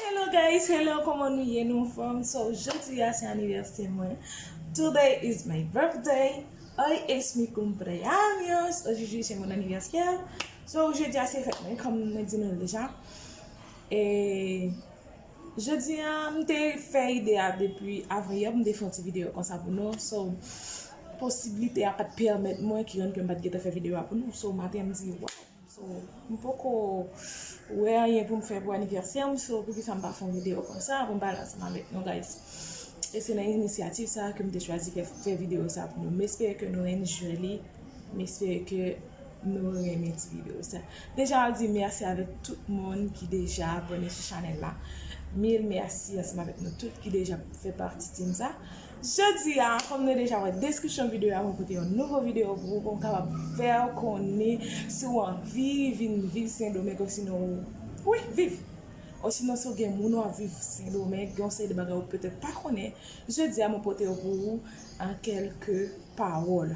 Hello guys hello koman nou ye nou anfom so jodi a se anivèsè mwen today is my birthday hoy es mi cumpleaños aujourd'hui c'est mon anniversaire so jodi a se fèt mwen kom mwen di nou deja e jodi a m te fè ide a depi avan yè pou m te fè yon ti video konsa pou nou so posiblite a pat pèmèt mwen ki rann ke m pat gentan fè video a pou nou so maten m di waw So m poko wè anyen poum fè pou anivèsèm so poukisa m pa fè yon video konsa poum pale ansanm avèk nou guys e se nan inisyativ sa kem te chwazi fè video sa pou nou m espere ke nou enjoy li m espere ke nou renmen ti video sa deja map di mèsi avèk tout moun ki deja abone sou chanèl la mil mèsi ansanm avèk nou tout ki deja fè pati team sa. Jodi a, kòm nou deja wè deskripsyon videyo a mwen pote yon nouvo videyo pou ou pou m kapab fèw konnen si w anvi vin viv sendomeng osinon ou wi viv osinon si w gen moun wap viv sendomeng gen yon seri de bagay ou petèt pa konnen jodi a mwen pote yo pou ou an kèlke pawòl.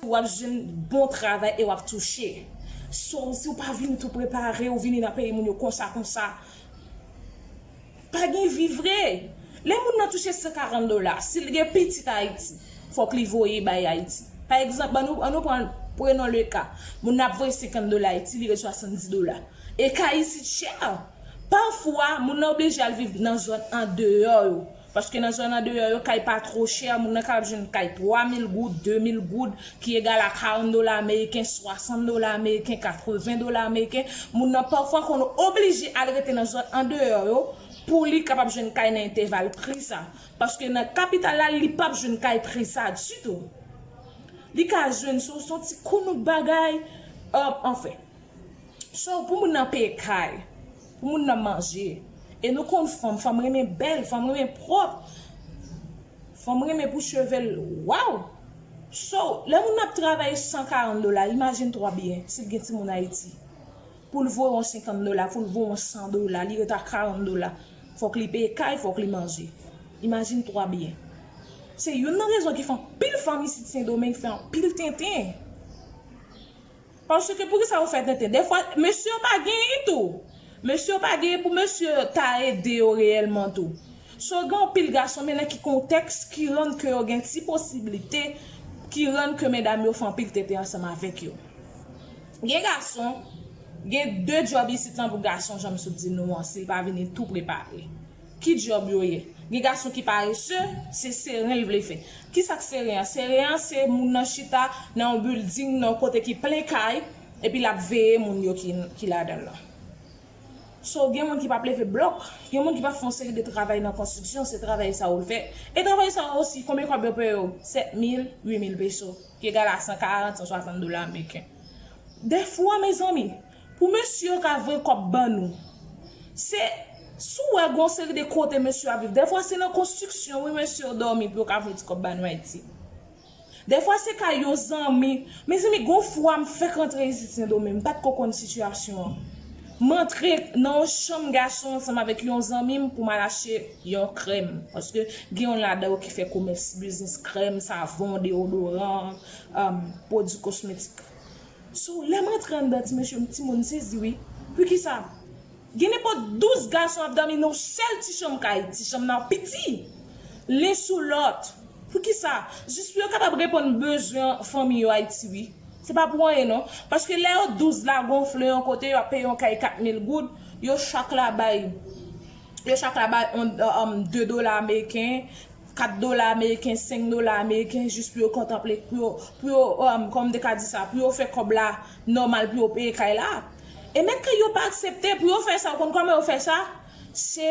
Wap jwenn bon travay e wap touche. So ou siw pa vini tou prepare ou vini nan peyi moun yo konsa konsa pa gen vi vre lè moun nan touche 140 dola sil gen pitit ayiti fok li voye bay ayiti pa egzanp an nou pran prenon le ka moun nan ap voye 50 dola ayiti li ret 70 dola e ka isit chè pafwa moun nan oblije al viv nan zòn andeyò yo. Paske nan zòn andeyò yo, kay pa two chè, moun nan kapab jwenn kay 3 mil goud, 2 mil goud, ki egal a 40 dola ameriken, 60 dola ameriken, 80 dola ameriken. Moun nan pafwa konn oblije al rete nan zòn andeyò yo pou li kapab jwenn kay nan enteval pri sa. Paske nan kapital la, li pap jwenn kay pri sa ditou. Li ka jwenn sou son ti kounouk bagay, anfen. So, pou moun nan peye kay. Pou moun nan manje. E nou konn fanm, fanm renmen bèl, fanm renmen pwòp, fanm renmen pou cheve l waww. So, lè moun nan ap travay 140 dola, imajine twa byen, si l gen timoun Ayiti. Pou l voye yon 50 dola, pou l voye yon 100 dola, li ret a 40 dola. Fòk li peye kay, fòk li manje. Imajine twa byen. Se youn nan rezon ki fè anpil fanm isit Sendomeng fè anpil tenten. Paske poukisa ou fè tenten. Dèfwa mesye yo pa genyen tou. Mesye yo pa genyen pou mesye yo ta ede yo reyèlman tou. So gen anpil gason men nan ki kontèks ki rann ke yo gen ti posiblite ki rann ke medam yo fè anpil tenten ansanm avèk yo. Gen gason, gen de djòb isit lan pou gason janm sot di nou an si l pa vini tou prepare. Ki job yo ye? Gen gason ki parese, se seren l vle fè. Kisa k seren an? Seren an se moun nan chita nan yon bilding, nan yon kote ki plen kay, epi l ap veye moun yo ki ladan l lan. So, gen moun ki p ap leve blòk, gen moun ki p ap fè yon seri de travay nan konstriksyon, se travay sa yo l fè. E travay sa yo osi, konbyen kòb yo peye yo? 7 mil, 8 mil peso, ki egal a 140, 160 dola ameriken. Dèfwa, mezanmi! Pou mesye yo ka voye kòb ban nou. Se, si w wè gen yon seri de kote mesye yo ap viv, dèfwa se nan konstriksyon wi mesye yo dòmi pou yo ka voye ti kòb ba nou Ayiti. Dèfwa se kay yon zanmi, mezanmi gen yon fwa m fèk antre isit Sendomeng, m pa t ko konn sitiyasyon an. M antre nan yon chanm gason ansanm avèk yon zanmi m pou m al achte yon krèm, paske gen yon ladan yo ki fè komès, biznis krèm, savon, deodoran, pwodui kosmetik. So lèm rantre anndan ti mesye m timoun sezi wi pukisa gen nenpòt 12 gason ap dòmi nan yon sèl ti chanm kay ti chanm nan piti len sou lòt pukisa jis pou yo kapab reponn bezwen fanmi yo ayiti wi se pa pou anyen non paske lè yo 12 la gonfle yon kote yo ap peye yon kay 4 mil goud yo chak la bay yo chak la bay 2 dola ameriken 4 dola ameriken, 5 dola ameriken jis pou yo kontanple, pou yo, pou yo, kòman m te ka di sa, pou yo fè kòb la nòmal pou yo peye kay la. E mèt kay yo pa aksepte pou yo fè sa, ou konn kòman yo fè sa? Se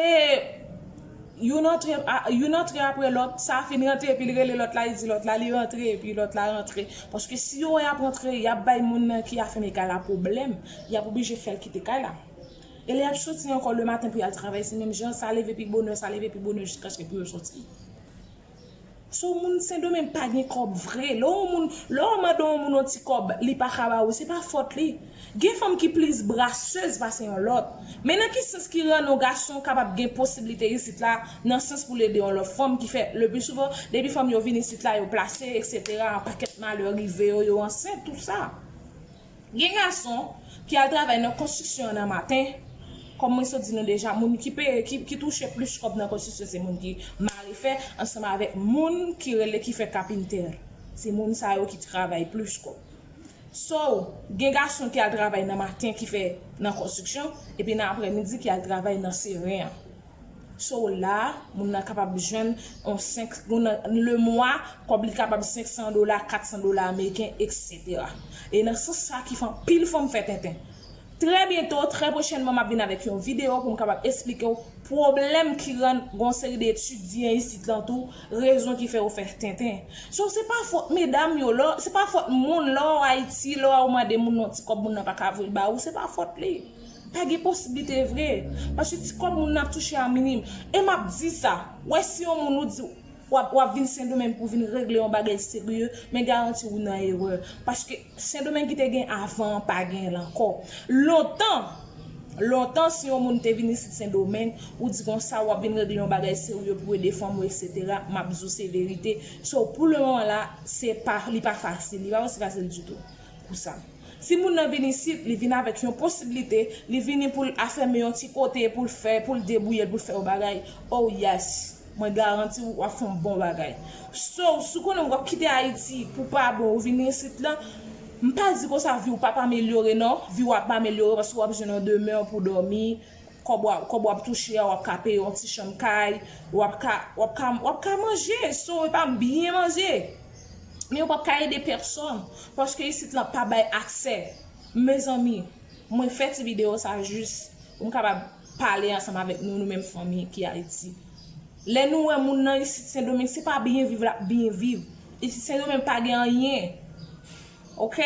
youn antre, youn antre apre lòt, sa fin rantre epi li rele lòt la, li di lòt la li rantre epi lòt la rantre. Paske si yo wè y ap rantre, y ap bay moun nan ki afèm e kay la pwoblèm, y ap oblije fè l kite kay la. E lè yap soti ankò le maten pou yal travay se menm jan, sa leve pi bonè, sa leve pi bonè jiskaske pou yo soti. So moun sendomeng pa gen kòb vre, lè yon moun, lè wap mande yon moun yon ti kòb li paka ba ou se pa fòt li. Gen fanm ki plis brasseuse pase yon lòt. Men nan ki sans ki rann yon gason kapab gen posibilite isit la nan sans poul ede yon lòt fanm ki fè le pli souvan depi fanm yo vin isit la yo plase etc anpakèt malè rive yo yo ansent tout sa. Gen gason ki al travay nan konstriksyon an nan maten, kòm mwen sot di nou deja moun ki peye ki touche plis kòb nan konstriksyon se moun ki mare fè ansanm avèk moun ki rele ki fè kapintè. Se moun sa yo ki travay plis kòb. So, gen gason ki al travay nan maten ki fè nan konstriksyon epi nan aprèmidi ki al travay nan seren an. So la, moun nan kapab jwenn yon 5, nan le mwa, kòb li kapab 500 dola, 400 dola ameriken, eksetera. E nan sans sa ki fè anpil fanm fè tenten. Trè byento, trè pwochènman m'ap vin avèk yon videyo pou m kapab esplike w pwoblèm ki rann gen yon seri de etidyan isit lan tou, rezon ki fè yo fè tenten. So se pa fòt medam yo, lò, se pa fòt moun, lè w'aw Ayiti, lè w'aw mande moun yon ti kòb moun nan pa ka voye ba ou, se pa fòt li. Pa gen posiblite vre. Paske ti kòb moun nan ap touche a minim. E m ap di sa, wè si yon moun ou di w ap w ap vin Sendomeng pou vin regle yon bagay serye, men garanti ou nan erè. Paske Sendomeng ki te gen avan an pa gen l ankò. Lontan, lontan si yon moun te vin isit Sendomeng, ou di kon sa w ap vin regle yon bagay serye pou ede fanmi w eksetera, m ap di w se verite. So pou le moman la, se pa, li pa fasil. Li pa osi fasil ditou. Pou sa. Si moun nan vin isit, li vin avèk yon posiblite, li vini pou l afème yon ti kote, pou l fè, pou l debouye l, pou l fè yon bagay, oh yes! Mwen garanti w, w ap fè yon bon bagay. So, si w konnen w ap kite Ayiti pou pa bon, ou vini isit la, m pa di konsa vi w p ap amelyore non, vi w ap amelyore paske w ap jwenn yon demè pou w dòmi, kòb w ap touche a w ap ka peye yon ti chanm kay, w ap ka, w ap ka, w ap ka manje, so e pa byen manje! Men yo pap ka ede pèsòn paske isit lan pa bay aksè Mezanmi mwen fè ti video sa jis pou m kapab pale ansanm avèk nou nou menm fanmi ki Ayiti Lè nou wè moun nan isit Sendomeng se pa byen viv lap byen viv Isit Sendomeng pa gen anyen Ok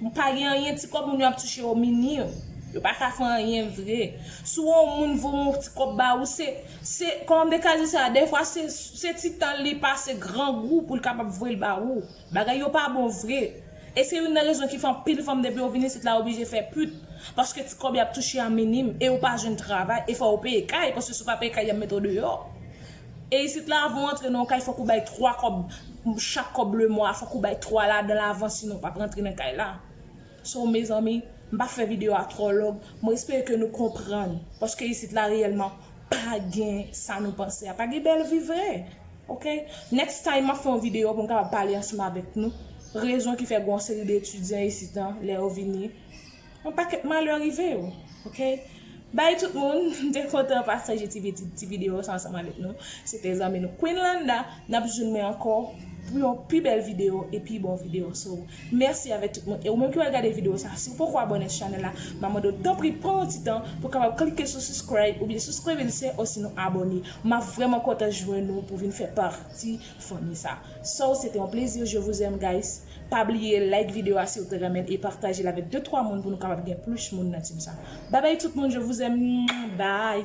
m pa gen anyen ti kob moun yo ap touche yo minim yo pa ka fè anyen vre sou on moun voye on ti kob ba ou se se koman m te ka di sa dèfwa se se ti tan li pase grangou pou l kapab voye l ba ou bagay yo pa bon vre e se youn nan rezon ki fè anpil fanm depi yo vin isit la yo oblije fè put paske ti kob y ap touche a minim e yo pa jwenn travay e fò yo peye kay paske si w pa peye kay y ap mete w deyò. E isit la avan w antre nan yon kay fòk ou bay 3 kòb chak kòb le mwa fòk ou bay 3 ladanl avan sinon ou pap rantre nan kay la so mezanmi m pa fè video a twò long mwen espere ke nou konprann paske isit la reyèlman pa gen sa nou panse a pa gen bèl vi vre ok next time map fè yon video pou m kapab pale ansanm avèk nou rezon ki fè gen yon seri de etidyan isit an lè yo vini. Yon paket malè rive yo ok bye tout moun m te kontan pataje ti video sa ansanm avek nou se te zanmi nou Queen Landa nap jwenn mwen anko pou yon pi bel video e pi bon video so mèsi avek tout moun e ou menm ki pral gade video sa si ou poko abone sou chanel la ma mande w tanpri pran yon ti tan pou kapab klike sou suscribe ou byen suscribe lse osinon abone map vreman kontan jwenn ou pou vin fè parti fanmi sa so se te yon plezi je vous aime guys. Pa bliye like video a siw te renmenl e patajel avek 2 3 moun pou nou kapab gen plus moun nan team sa. Bye bye tout moun je vous aime bye.